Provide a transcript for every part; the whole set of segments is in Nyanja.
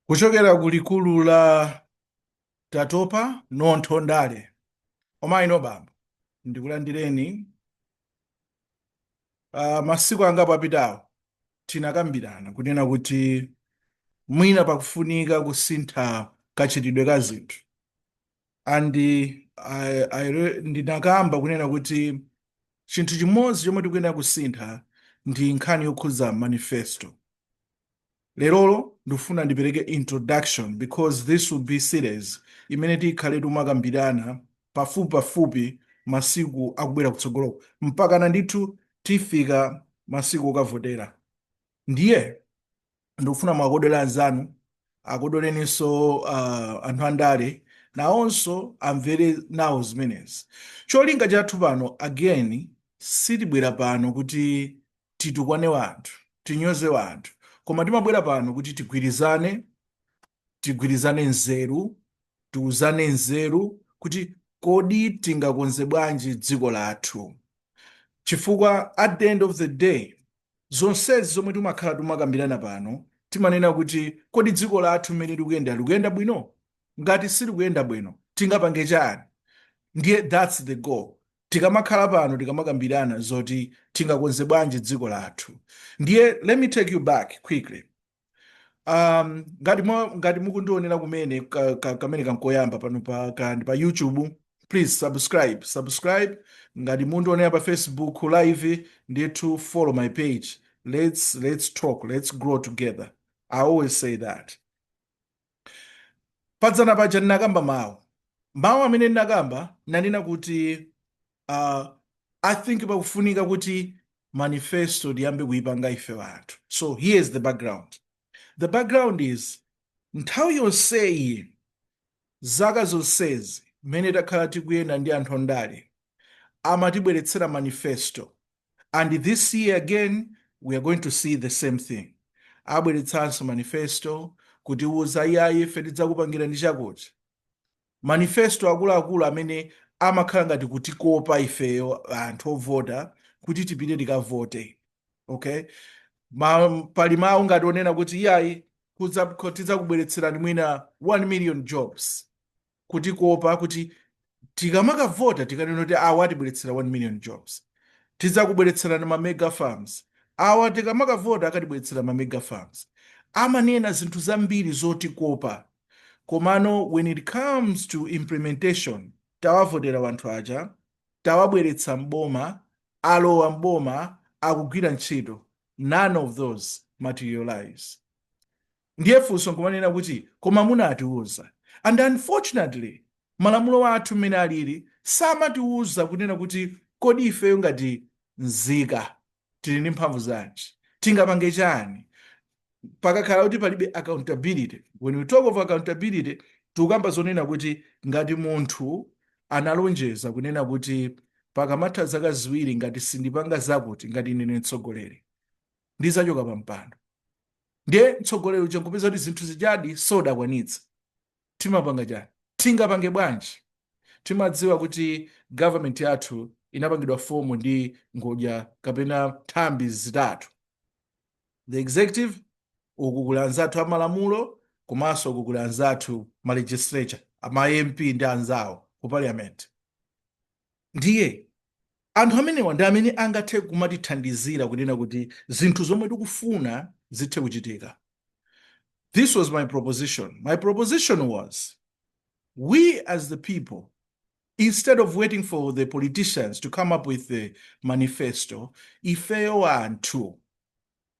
kuchokera ku likulu la tatopa nontho ondale omayino bambo ndikulandireni uh, masiku angapo apitawo tinakambirana kunena kuti mwina pakufunika kusintha kachitidwe ka zinthu and I, I, ndinakamba kunena kuti chinthu chimodzi chomwe tikuyenera kusintha ndi nkhani yokhudza manifesto lerolo ndifuna ndipereke introduction because this will be series imene tikhale timakambirana pafupi pafupi masiku akubwera kutsogoloku mpakana ndithu tifika masiku okavotera ndiye ndikufuna muwakodole anzanu akodoleninso uh, anthu andale nawonso amvere nawo zimenezi cholinga chathu pano again sitibwera pano kuti titukwane wanthu tinyoze wanthu koma timabwera pano kuti tigwirizane tigwirizane nzeru tiuzane nzeru kuti kodi tingakonze bwanji dziko lathu chifukwa at the end of the day Zonsezi zomwe tumakhala tumakambirana pano timanena kuti kodi dziko lathu mmene likuyendera likuyenda bwino? Ngati silikuyenda bwino tingapange chani? Ndiye thats the goal tikamakhala pano tikamakambirana zoti tingakonze bwanji dziko lathu. Ndiye let me take you back quickly um, ngati mwa- ngati mukundionera kumene ka- ka- kamene kankoyamba pano pa ka- ndi pa youtube please subscribe subscribe ngati mundionera pa facebook live ndithu follow my page let's let's talk let's grow together i always say that Padzana paja ndinakamba mawu mawu amene ndinakamba nanena kuti uh, i think pakufunika kuti manifesto tiyambe kuipanga ife anthu so here is the background the background is nthawi yonseyi zaka zonsezi mmene takhala tikuyenda ndi anthu ondale amatibweretsera manifesto and this year again we are going to see the same thing abweretsanso manifesto kutiwuza iyayi ife tidzakupangira ni chakuti manifesto akuluakulu amene amakhala ngati kutikopa ifeyo anthu ovota kuti tipite tikavote okay Ma, pali mawu ngati onena kuti iyayi kudza- ko- tidzakubweretserani mwina 1 million jobs kutikopa kuti tikamakavota tikanena kuti awa atibweretsera 1 million jobs tidzakubweretserani ma mega farms awa tikamakavota akatibweretsera ma mega farms amanena zinthu zambiri zotikopa komano when it comes to implementation tawavotera wanthu aja tawabweretsa mboma alowa mboma akugwira ntchito none of those materialize Ndiye funso nkumanena kuti koma munatiuza. And unfortunately malamulo athu mmene alili samatiuza kunena kuti kodi ifeyo ngati nzika tili ndi mphamvu zanji, tingapange chani pakakhala kuti palibe accountability. When we talk of accountability tikukamba zonena kuti ngati munthu analonjeza kunena kuti pakamatha zaka ziwiri ngati sindipanga zakuti ngati ine ndine mtsogoleri, ndizachoka pa mpando ndiye mtsogoleri uja nkupeza kuti zinthu zijadi sodakwanitsa timapanga chani tingapange bwanji timadziwa kuti government yathu inapangidwa fomu ndi ngodya kapena nthambi zitatu the executive uku kuli anzathu amalamulo komanso uku kuli anzathu ma legislature ma mp ndi anzawo ku parliament Ndiye, anthu amenewa ndi amene angathe kumatithandizira kunena kuti zinthu zomwe tikufuna zithe kuchitika. This was my proposition. My proposition was, we as the people, instead of waiting for the politicians to come up with the manifesto, ifeyo anthu,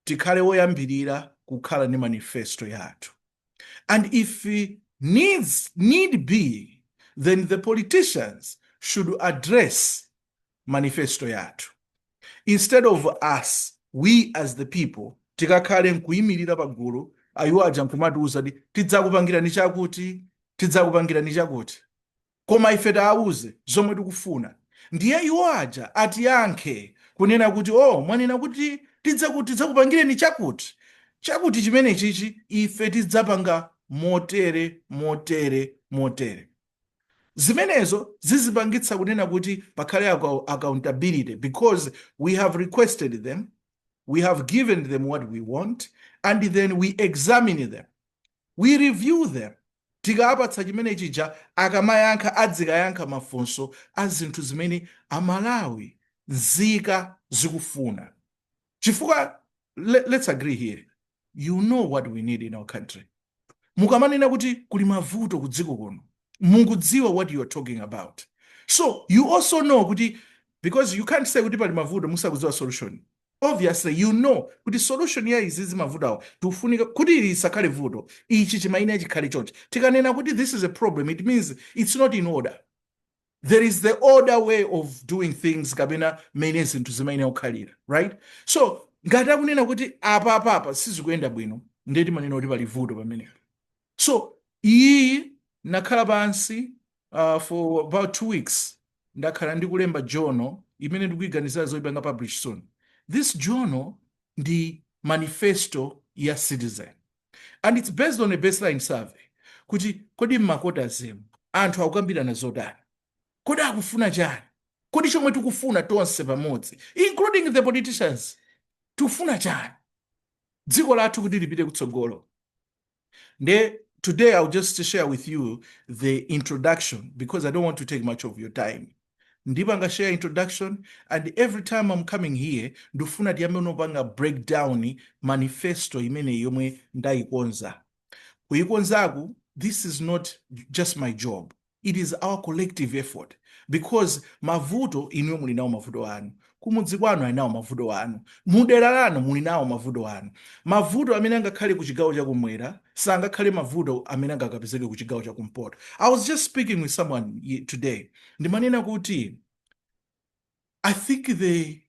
tikhale oyambirira kukhala ndi manifesto yathu and if need need be then the politicians should address manifesto yathu instead of us we as the people tikakhale nkuyimirira pagulu ayiwo aja nkumatiuza kuti tidzakupangirani chakuti tidzakupangirani chakuti koma ife taauze zomwe tikufuna ndiye iwo aja atiyankhe kunena kuti o oh, mwanena kuti tidza tidzakupangireni chakuti chakuti chimenechichi ife tidzapanga motere motere motere zimenezo zizipangitsa kunena kuti pakhale accountability because we have requested them we have given them what we want and then we examine them We review them tikawapatsa chimene chija akamayankha adzikayankha mafunso a zinthu zimene a Malawi, nzika zikufuna chifukwa let's agree here you know what we need in our country. Mukamanena kuti kuli mavuto ku dziko kuno mukudziwa what you are talking about so you also know kuti because you can't say kuti pali mavuto musakudziwa solution. obviously you know kuti solution ya izizi mavutowa tikufunika kuti ili isakhale vuto ichi chimayenera chikhale chonchi tikanena kuti this is a problem it means it's not in order there is the order way of doing things kapena mmene zinthu zimayenera kukhalira right so ngati akunena kuti apa apa apa sizikuyenda bwino ndiye timanena kuti pali vuto pamenepo So iyiyi nakhala pansi uh, for about two weeks ndakhala ndikulemba journal imene ndikuganizira zoipanga publish soon this journal ndi manifesto ya citizen and it's based on a baseline survey kuti kodi mmakota zemu anthu akukambirana zotani kodi akufuna chani kodi chomwe tikufuna tonse pamodzi including the politicians tikufuna chani dziko lathu kuti lipite kutsogolo Nde today I'll just share with you the introduction because I don't want to take much of your time. ndipanga share introduction and every time I'm coming here ndifuna tiyambe unopanga breakdown manifesto imene yomwe ndayikonza kuyikonzaku this is not just my job It is our collective effort because mavuto inuyo muli nawo mavuto anu kumudzi kwanu ali nawo mavuto anu mudera lanu muli nawo mavuto anu mavuto amene angakhale ku chigawo chakumwera sangakhale mavuto amene angakapezeke ku chigawo chakumpoto i was just speaking with someone today ndimanena kuti I think the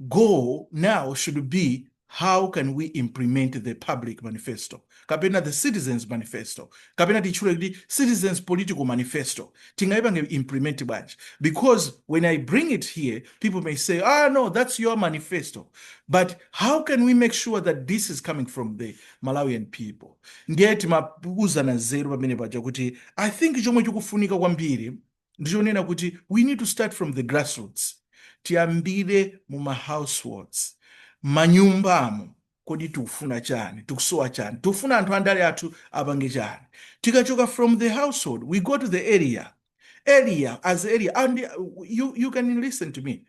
goal now should be how can we implement the public manifesto kapena the citizens manifesto kapena titchule kuti citizens political manifesto tingayipange implement bwanji because when i bring it here people may say ah no that's your manifesto but how can we make sure that this is coming from the malawian people ndiye timauzana nzeru pamene paja kuti i think chomwe chikufunika kwambiri ndichonena kuti we need to start from the grassroots tiyambire mu ma households manyumbamo kodi tikufuna chani tikusowa chani tikufuna anthu andale athu apange chani tikachoka from the household we go to the area area as area and uh, you, you can listen to me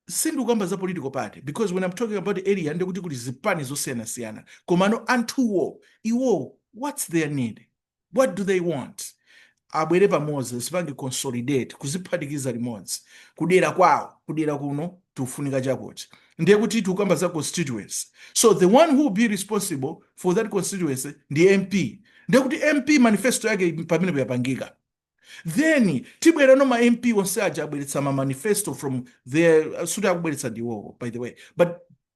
sindikukamba za political party because when i'm talking about the area ndekuti kuli zipani zosiyanasiyana komano anthuwo iwo what's their need what do they want abwere pamodzi azipange consolidate kuziphatikiza limodzi kudera kwawo kudera kuno tikufunika chakuti ndiye kuti tikukamba za constituency so the one who will be responsible for that constituency ndi mp ndiye kuti mp manifesto yake pamenepo yapangika then tibwerano ma mp onse aja abweretsa ma manifesto from their sikuti akubweretsa ndiwowo by the way but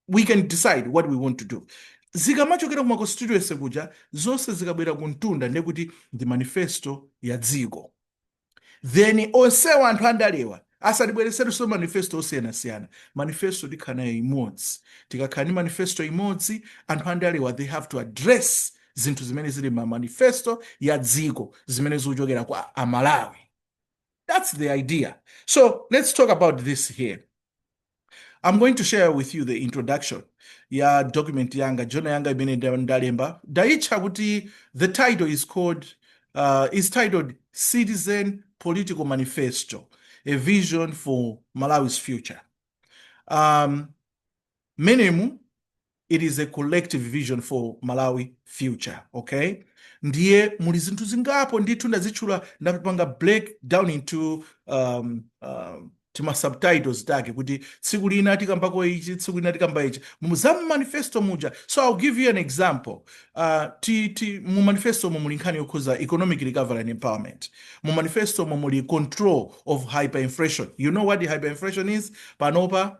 we can decide what we want to do zikamachokera kuma constituency kuja zonse zikabwera kumtunda ndekuti ndi manifesto ya dziko then onsewa anthu andalewa asatibweretserenso manifesto osiyanasiyana manifesto tikhala nayo imodzi tikakhala ndi manifesto imodzi anthu andalewa they have to address zinthu zimene zili ma manifesto ya dziko zimene zikuchokera kwa amalawi that's the idea so let's talk about this here i'm going to share with you the introduction ya document yanga journal yanga imene nda- ndalemba ndaitcha kuti the title is called uh, is titled citizen political manifesto a vision for malawi's future um, m'menemu it is a collective vision for malawi future okay ndiye muli zinthu zingapo ndithu ndazitchula ndapanga break down into um, um, tima subtitles take kuti tsiku lina tikambako ichi tsiku lina tikamba ichi za mu manifesto muja so i'll give you an example uh, ti, ti, mu manifesto mu muli nkhani yokhuza economic recovery and empowerment mu manifesto mu muli control of hyperinflation you know what hyperinflation is panopa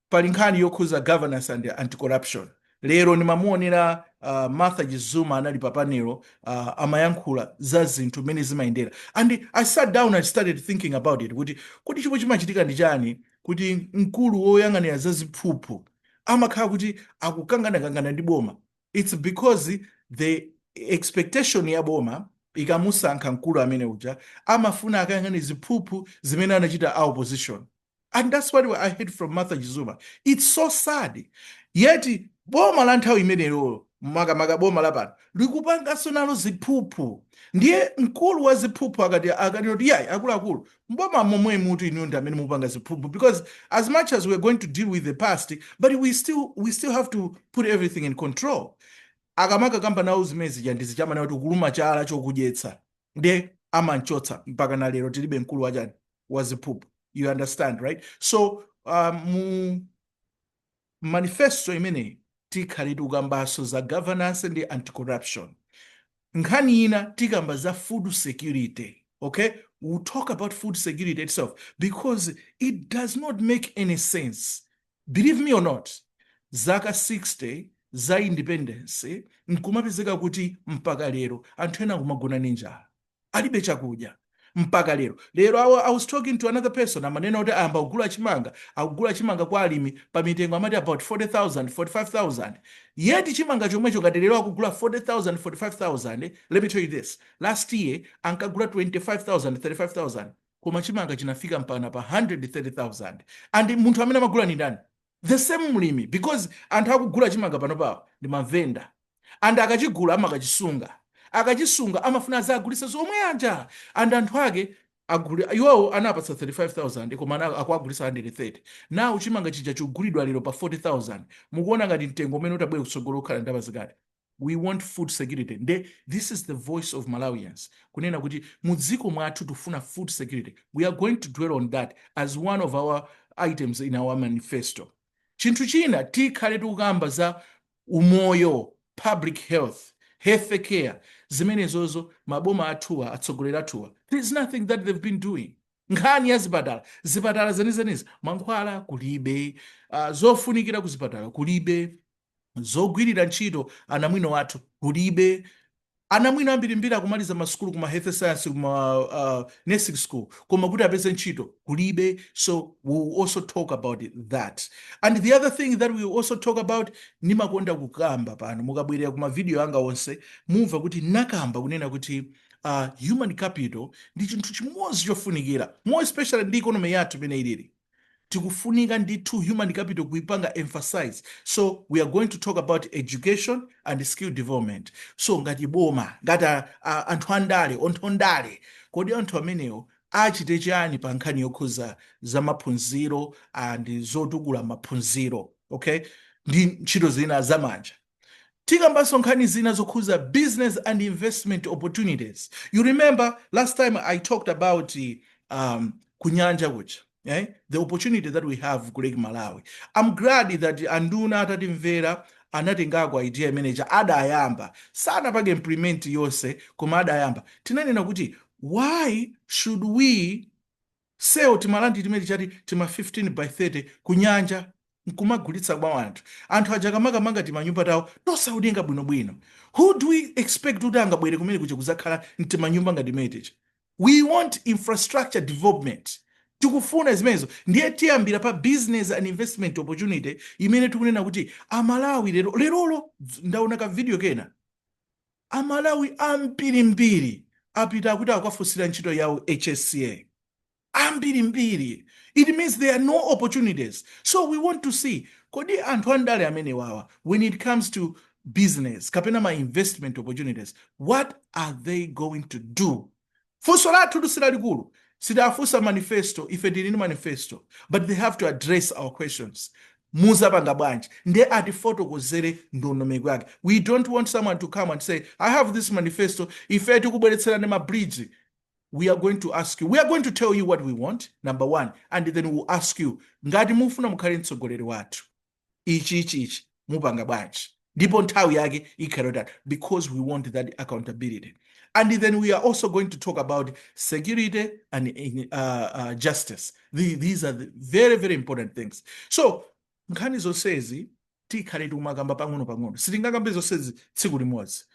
Pali nkhani yokhuza governance and anti-corruption lero ndimamuonera Martha Chizuma anali pa panel amayankhula za zinthu mmene zimayendera and I sat down and started thinking about it kuti kodi chomwe chimachitika ndi chani kuti mkulu woyang'anira za ziphuphu amakhala kuti akukanganakangana ndi boma it's because the expectation ya boma ikamusankha mkulu amene uja amafuna akayang'ane ziphuphu zimene anachita a opposition and that's what i heard from martha chizuma it's so sad yeti boma la nthawi imeneyolo makamaka boma la pano likupanganso nalo ziphuphu ndiye mkulu wa ziphuphu akati akati kuti yayi akuluakulu mboma momwe muno inu ndi amene mupanga ziphuphu because as much as we're going to deal with the past but we still we still have to put everything in control akamakakamba nawo zimene zija ndi zija amanena kuti kuluma chala chokudyetsa ndiye amanchotsa mpaka na lero tilibe mkulu wachani wa ziphuphu you understand right so um, mu manifesto imeneyi tikhala tikambanso za governance ndi anti-corruption nkhani ina tikamba za food security okay we'll talk about food security itself because it does not make any sense believe me or not zaka 60 za independence nkumapezeka kuti mpaka lero anthu ena kumagona ninjala alibe chakudya mpaka lero lero awa i was talking to another person amanena kuti ayamba kugula chimanga akugula chimanga kwa alimi pa mitengo amati about 40000 45000 yet chimanga chomwecho ngati lero akugula 40000 45000 let me tell you this last year ankagula 25000 35000 koma chimanga chinafika mpana pa 130000 and munthu amene amagula ni ndani the same mlimi because anthu akugula chimanga panopawo ndi mavenda and akachigula amakachisunga akachisunga amafuna azagulisa zomwe zija and anthu ake aja iwowo anawapatsa 35000 koma ana- akuwagulisa 130 now chimanga chija chikugulidwa lero pa 40000 mukuona ngati mtengo umene utabwere kutsogolo ukhala ndalama zingati we want food security nde this is the voice of malawians kunena kuti mu dziko mwathu tifuna food security we are going to dwell on that as one of our items in our manifesto chinthu china tikhale tikukamba za umoyo public health health care zimenezozo maboma athuwa atsogoleri athuwa there is nothing that they've been doing nkhani ya zipatala zipatala zenizenizi mankhwala kulibe uh, zofunikira kuzipatala kulibe zogwirira ntchito anamwino athu kulibe anamwino ambirimbiri akumaliza masukulu kuma health science kuma uh, nursing school koma kuti apeze ntchito kulibe so we will also talk about that and the other thing that we also talk about ndimakonda kukamba pano mukabwerera kuma video anga onse mumva kuti nakamba kunena kuti uh, human capital ndi chinthu chimodzi chofunikira more especially ndi economy yathu imene ilili tikufunika ndithu human capital kuipanga emphasize so we are going to talk about education and skill development so ngati boma ngati a- a- anthu andale anthu andale kodi anthu amenewo achite chani pa nkhani yokhuza za maphunziro and zotukula maphunziro okay ndi ntchito zina zamanja Tikambanso nkhani zina zokhuza business and investment opportunities. You remember last time I talked about um, kunyanja kuja eh? the opportunity that we have ku Lake Malawi. I'm glad that anduna atatimvera anatengako idea imeneja adayamba sanapange implement yonse koma adayamba tinanena kuti why should we sell timaland timene tija ti tima 15 by 30 kunyanja nkumagulitsa kwa anthu. Anthu aja akamakamanga timanyumba tawo tosaoneka bwinobwino, who do we expect kuti angabwere kumene kuja kudzakhala mtimanyumba ngati timene tija? We want infrastructure development. Tikufuna zimenezo. Ndiye tiyambira pa business and investment opportunity imene tikunena kuti Amalawi lero, lerolo ndaona ka video kena. Amalawi ambirimbiri apita akuti akukafunsira ntchito ya u HSA. Ambirimbiri. It means there are no opportunities. So we want to see kodi anthu andale amenewawa when it comes to business kapena ma investment opportunities what are they going to do? Funso lathutu silalikulu sitiafunsa manifesto ife tili ndi manifesto but they have to address our questions muzapanga bwanji nde atifotokozere ndondomeko yake we don't want someone to come and say i have this manifesto ife tikubweretserani ma bridge we are going to ask you we are going to tell you what we want number one and then we will ask you ngati mufuna mukhale mtsogoleri wathu ichi ichi ichi mupanga bwanji ndipo nthawi yake ikhala iti because we want that accountability and then we are also going to talk about security and uh, uh, justice the, these are the very very important things so nkhani zonsezi tikhale tikumakamba pang'ono pang'ono sitingakambe zonsezi tsiku limodzi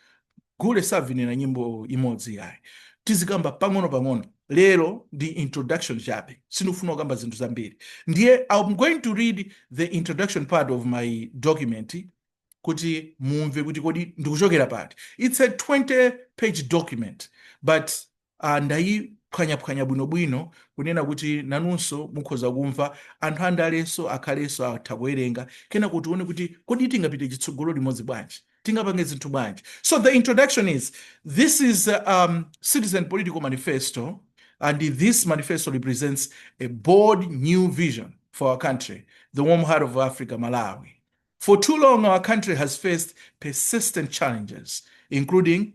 Gule savinira nyimbo imodzi yayi tizikamba pang'ono pang'ono lero ndi introduction chabe sindikufuna kukamba zinthu zambiri ndiye i'm going to read the introduction part of my document kuti mumve kuti kodi ndikuchokera pati it's a 20 page document but a Ndayiphwanyaphwanya bwinobwino kunena kuti nanunso mukhoza kumva. Anthu andalenso akhalenso atha kuwerenga. Kenako tione kuti kodi tingapite chitsogolo limodzi bwanji? Tingapange zinthu bwanji? So the introduction is this is a um, citizen political manifesto and this manifesto represents a bold new vision for our country, the warm heart of Africa, Malawi. For too long, our country has faced persistent challenges, including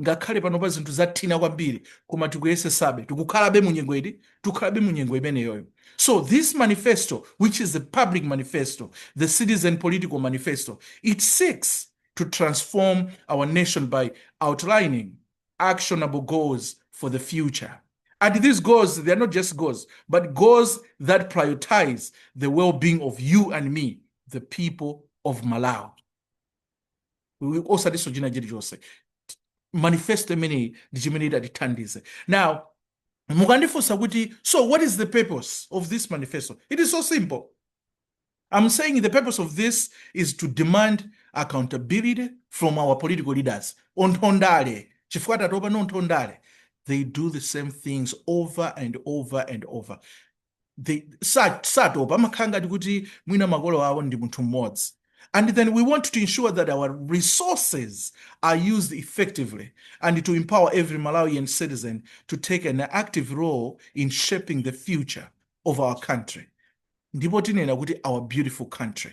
Ngakhale panopa zinthu zathina kwambiri koma tikuyesesabe, tikukhalabe mu nyengo iti? Tikukhalabe mu nyengo imeneyoyo. So this manifesto which is the public manifesto, the citizen political manifesto, it seeks to transform our nation by outlining actionable goals for the future. And these goals, they are not just goals, but goals that prioritize the well-being of you and me, the people of Malawi. osatinso china chilichonse manifesto imeneyi ndi chimene itatithandize now mukandifunsa kuti so what is the purpose of this manifesto it is so simple i'm saying the purpose of this is to demand accountability from our political leaders anthu andale chifukwa tatopa ndi anthu andale they do the same things over and over and over satopa amakhala ngati kuti mwina makolo awo ndi munthu mmodzi and then we want to ensure that our resources are used effectively and to empower every malawian citizen to take an active role in shaping the future of our country ndipo tinena kuti our beautiful country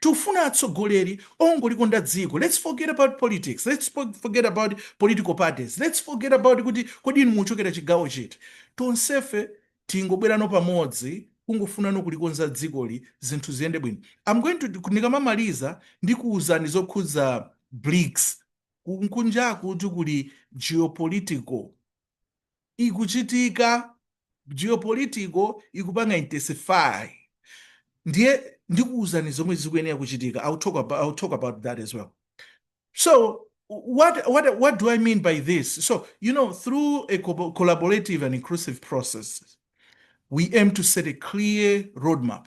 Tikufuna atsogoleri ongolikonda dziko lets forget about politics lets forget about political parties lets forget about kuti kodi inu mukuchokera chigawo chiti tonsefe tingobwerano pamodzi kungofunano kulikonza dzikoli zinthu ziyende bwino am going to ndikamamaliza ndikuuzani zokhudza Brics kunjaku kuti kuli geopolitical ikuchitika geopolitical ikupanga intensify ndiye ndikuwuzani zomwe zikuyenera kuchitika I'll talk about, I'll talk about that as well so what, what, what do I mean by this so you know through a collaborative and inclusive process we aim to set a clear roadmap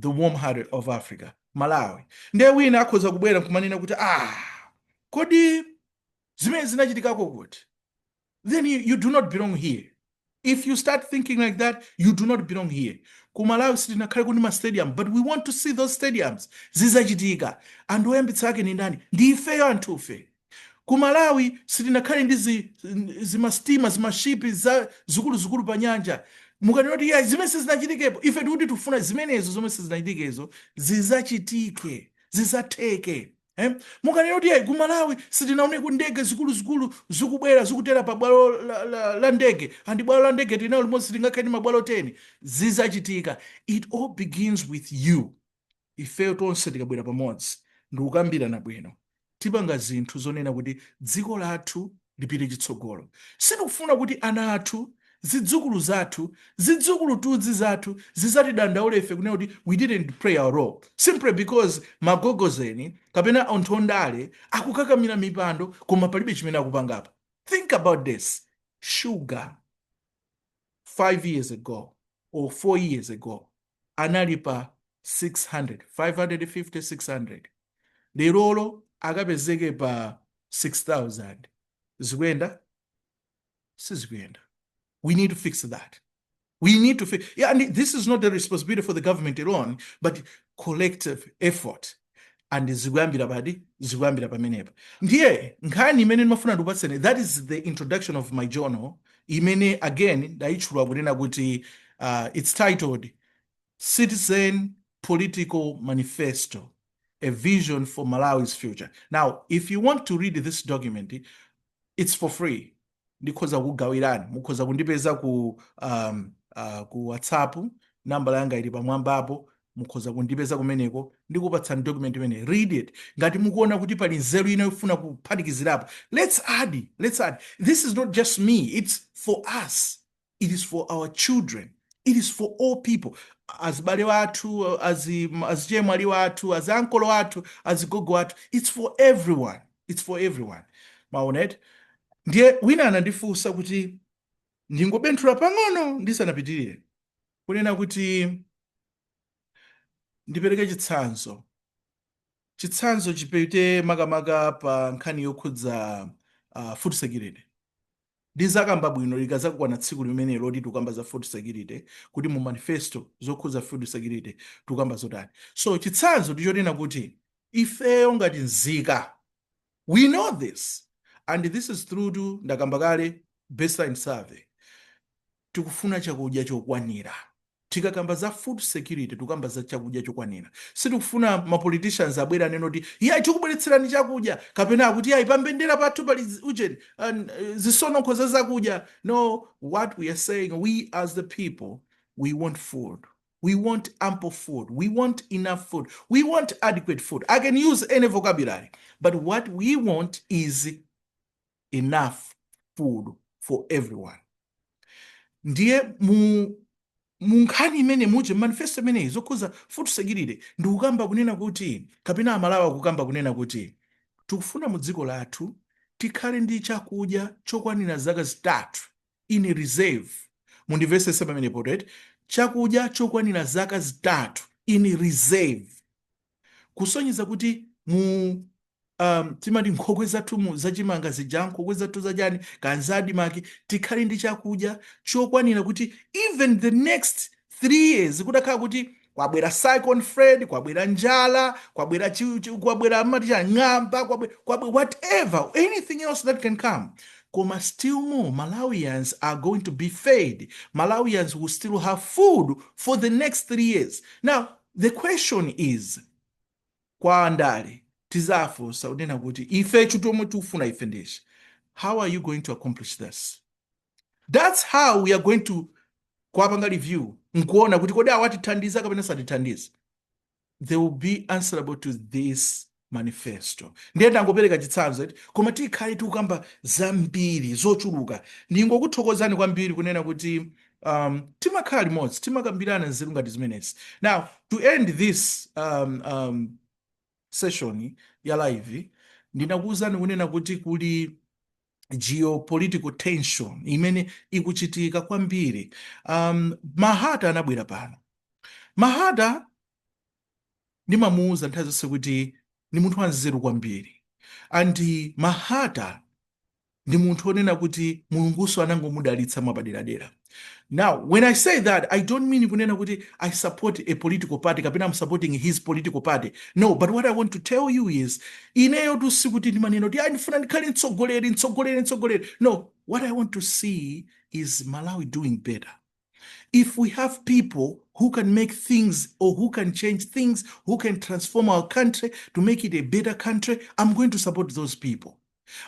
the warm hearted of africa malawi ndiye wina akhoza kubwera nkumanena kuti ah kodi zimene zinachitikako kuti then you, you do not belong here if you start thinking like that you do not belong here ku malawi sitinakhale ndi mastadium but we want to see those stadiums zizachitika anthu oyambitsa ake ni ndani ndi ifeyo anthufe Ku Malawi sitinakhale ndi zi, zi ma steamer, zima ship zikuluzikulu pa nyanja. Mukanena kuti iyayi zimene sizinachitikepo, ife tikuti tikufuna zimenezo zomwe sizinachitikezo zizachitike, zizatheke. Eh? Mukanena kuti iyayi ku Malawi sitinaoneko ndege zikuluzikulu zikubwera zikutera pa bwalo la, la, la ndege and bwalo la ndege tinali nalo limodzi sitingakhale ndi mabwalo 10 zizachitika. It all begins with you. ifeyo tonse tikabwera pamodzi ndikukambirana bwino tipanga zinthu zonena kuti dziko lathu lipite chitsogolo. Sitikufuna kuti ana athu, zidzukulu zathu, zidzukulutudzi zathu zizatidandaule ife kunena kuti we didn't play our role simply because magogozeni kapena anthu ondale akukakamira mipando koma palibe chimene akupangapo. Think about this. Sugar 5 years ago or 4 years ago anali pa 600, 550, 600 lerolo akapezeke pa 6000 zikuyenda sizikuyenda we need to fix that we need to fix yeah, and this is not the responsibility for the government alone but collective effort and zikuyambira pati zikuyambira pamenepa ndiye nkhani imene ndimafuna ndikupatseni that is the introduction of my journal imene again ndayitchula kunena kuti uh, it's titled citizen political manifesto a vision for malawi's future now if you want to read this document it's for free ndikhoza kukugawirani mukhoza kundipeza ku um, uh, ku whatsapp nambala yanga ili pamwambapo mukhoza kundipeza kumeneko ndikupatsani document imeneyi read it ngati mukuona kuti pali nzeru ina yofuna kuphatikizirapo let's add let's add this is not just me it's for us it is for our children it is for all people azibale wathu azichemwali wathu aziankolo wathu azigogo wathu it's for everyone it's for everyone maonet ndiye wina anandifunsa kuti ndingobenthula pang'ono ndisanapitirire kunena kuti ndipereke chitsanzo chitsanzo chipite makamaka pa nkhani yokhudza uh, food security Ndizakamba bwino likazakwana tsiku limenelo loti tukamba za food security kuti mu manifesto zokhuza food security tukamba zotani. So chitsanzo ndichonena kuti ifeyo ngati nzika we know this and this is through ndakamba kale baseline survey. Tikufuna chakudya chokwanira. Tikakamba za food security tukamba za chakudya chokwanira. Sitikufuna ma politicians abwere anene kuti iyayi tikubweretserani chakudya kapena akuti iyayi pa mbendera pathu pali ujeni, an, zitsononkho za zakudya. No, what we are saying, we as the people, we want food. We want ample food. We want enough food. We want adequate food. I can use any vocabulary, but what we want is enough food for everyone ndiye mu nkhani imene muje manifesto imeneyi zokhuza food security ndikukamba kunena kuti kapena amalawi akukamba kunena kuti tikufuna mu dziko lathu tikhale ndi chakudya chokwanira zaka zitatu in reserve mundimvetsetse pamenepo eti chakudya chokwanira zaka zitatu in reserve kusonyeza kuti mu um, timati nkhokwe zathu zachimanga zija nkhokwe zathu zachani ka za ADMARC tikhale ndi chakudya chokwanira kuti even the next three years kutakhala kuti kwabwera cyclone Freddy kwabwera njala kwabwera chi- chi- kwabwera amati chang'amba kwabwe- kwabwe- whatever anything else that can come koma still more malawians are going to be fed malawians will still have food for the next three years now The question is kwa andale tizafunsa unena kuti ife zomwe tikufuna ife ndi izi how are you going to accomplish this that's how we are going to kwapanga review nkuona kuti kodi awatithandiza kapena satithandize they will be answerable to this manifesto ndiye ndangopereka chitsanzo eti koma tikhale tikukamba zambiri zochuluka ndingokuthokozani kwambiri kunena kuti um, timakhala limodzi timakambirana zinthu ngati zimenezi now to end this um, um, session ya live ndinakuwuzani kunena kuti kuli geopolitical tension imene ikuchitika kwambiri um, mahata anabwera pano mahata Ndimamuuza nthawi zonse kuti ndi munthu wanzeru kwambiri. And Mahata ndi munthu onena kuti Mulungunso anangomudalitsa mwapaderadera. Now, when I say that, I don't mean kunena kuti I support a political party kapena I'm supporting his political party. No, but what I want to tell you is, ineyotu sikuti ndimanena kuti, "Ayi, ndifuna ndikhale mtsogoleri, mtsogoleri, mtsogoleri." No, what I want to see is Malawi doing better. If we have people who can make things or who can change things, who can transform our country to make it a better country, I'm going to support those people.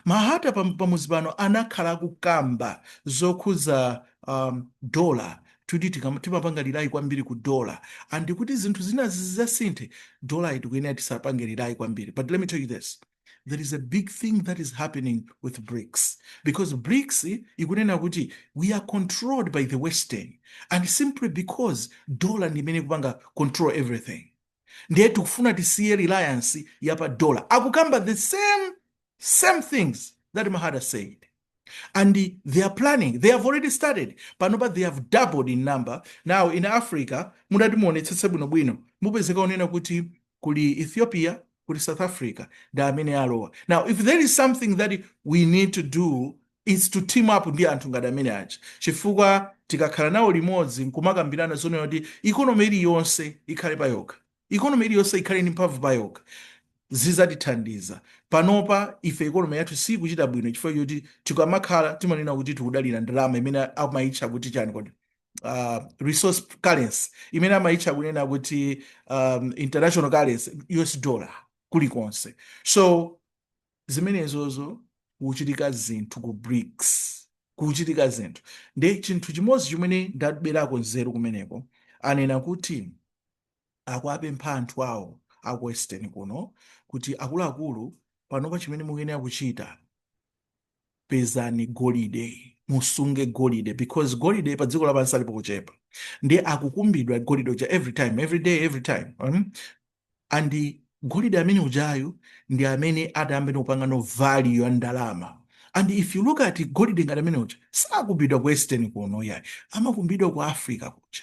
Mahata pam- pamuzi pano anakhala akukamba zokhuza um, dollar kuti tikam- timapanga rely kwambiri ku dollar and kuti zinthu zina zizasinthe dollar tikuyenera tisapange rely kwambiri but let me tell you this there is a big thing that is happening with BRICS because BRICS ikunena kuti we are controlled by the western and simply because dollar ndi imene ikupanga control everything ndiye tikufuna tisiye reliance yapa dollar akukamba the same same things that mahada said and they are planning they have already started panopa they have doubled in number now in africa mudati muonetsetse bwinobwino mupezeka unena kuti kuli ethiopia kuli south africa ndi amene alowa now if there is something that we need to do is to team up ndi anthu ngati amene aja chifukwa tikakhala nawo limodzi nkumakambirana zonena kuti economy iliyonse ikhale payokha Economy iliyonse ikhale ndi mphamvu payokha zizatithandiza. Panopa ife economy yathu sikuchita bwino chifukwa choti tikamakhala timanena kuti tikudalira ndalama imene amaitcha kuti chani kodi uh, resource currency imene amaitcha kunena kuti um, international currency US dollar kulikonse so zimenezozo kuchitika zinthu ku BRICS kuchitika zinthu nde chinthu chimodzi chimene ndaberako nzeru kumeneko anena kuti akuwapempha anthu awo aku western kuno kuti akuluakulu panopa chimene mukuyenera kuchita pezani golide musunge golide because golide pa dziko lapansi ali pochepa ndi akukumbidwa golide uja every time every day every time um, and golide amene ujayu ndi amene adayambe kupanganso value ya ndalama and if you look at golide ngati amene uja sakumbidwa ku western kuno yayi amakumbidwa ku africa kuja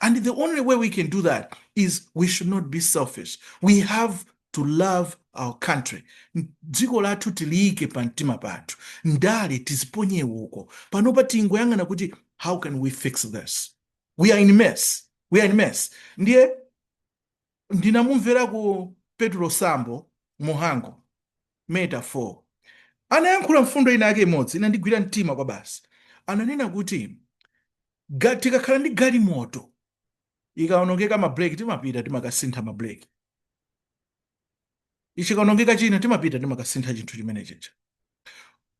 and the only way we can do that is we should not be selfish we have to love our country dziko lathu tiliyike pa mtima pathu ndale tiziponye uko panopa tingoyang'ana kuti how can we fix this we are in mess we are in mess ndiye ndinamumverako Petulo Sambo Muhango Meta 4 anayankhula mfundo ina yake imodzi inandigwira mtima kwa basi. Ananena kuti ga- tikakhala ndi galimoto ikaonongeka mabreki timapita timakasintha mabreki, chikaonongeka china timapita timakasintha chinthu chimene chija,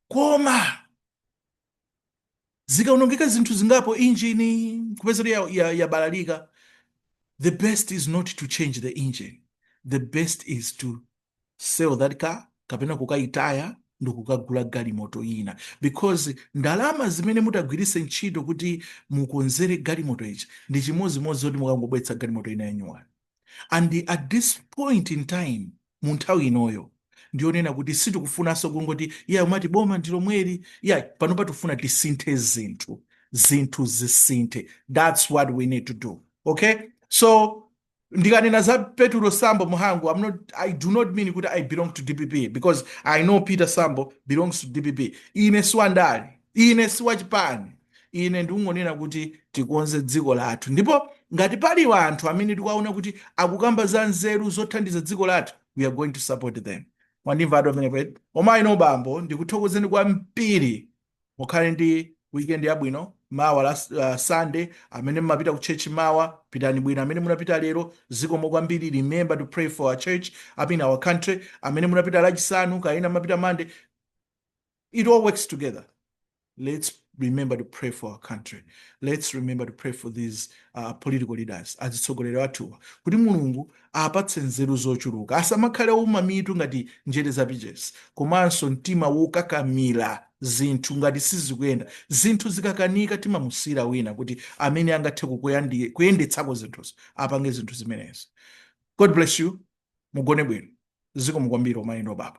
koma zikaonongeka zinthu zingapo injini kupeza kuti yabalalika ya, ya the best is not to change the engine the best is to sell that car kapena kukayitaya ndikukagula galimoto ina because ndalama zimene mutagwiritse ntchito kuti mukonzere galimoto ija ndi chimodzimodzi kuti mukangobweretsa galimoto ina yanyuwani and at this point in time mu nthawi inoyo ndiyonena kuti sitikufunanso kungoti ya umati boma ndi lomweli ayi panopa tifuna tisinthe zinthu zinthu zisinthe that's what we need to do okay so ndikanena za petulo sambo muhango I'm not, i do not mean kuti i belong to dpp because i know peter sambo belongs to dpp ine siwandale ine si wachipani ine ndikungonena kuti tikonze dziko lathu ndipo ngati pali anthu amene tikuwaona kuti akukamba za nzeru zothandiza dziko lathu we are going to support them mwandimva ati pamenepo eti amayi ndi abambo ndikuthokozeni kwambiri mukhale ndi weekend yabwino mawa la uh, sunday amene mumapita ku church mawa pitani bwino amene munapita lero zikomo kwambiri remember to pray for our church up in our country amene munapita lachisanu kaya ena mumapita mande It all works together. Let's remember to pray for our country. Let's remember to pray for these uh, political leaders azitsogoleri athuwa kuti mulungu apatse nzeru zochuluka asamakhale ouma mitu ngati njere za pichesi komanso mtima wokakamira zinthu ngati sizikuyenda zinthu zikakanika timamusiyira wina kuti amene angathe kuyendetsako zinthuzo apange zinthu zimenezi god bless you mugone bwino zikomo kwambiri omayenda obaba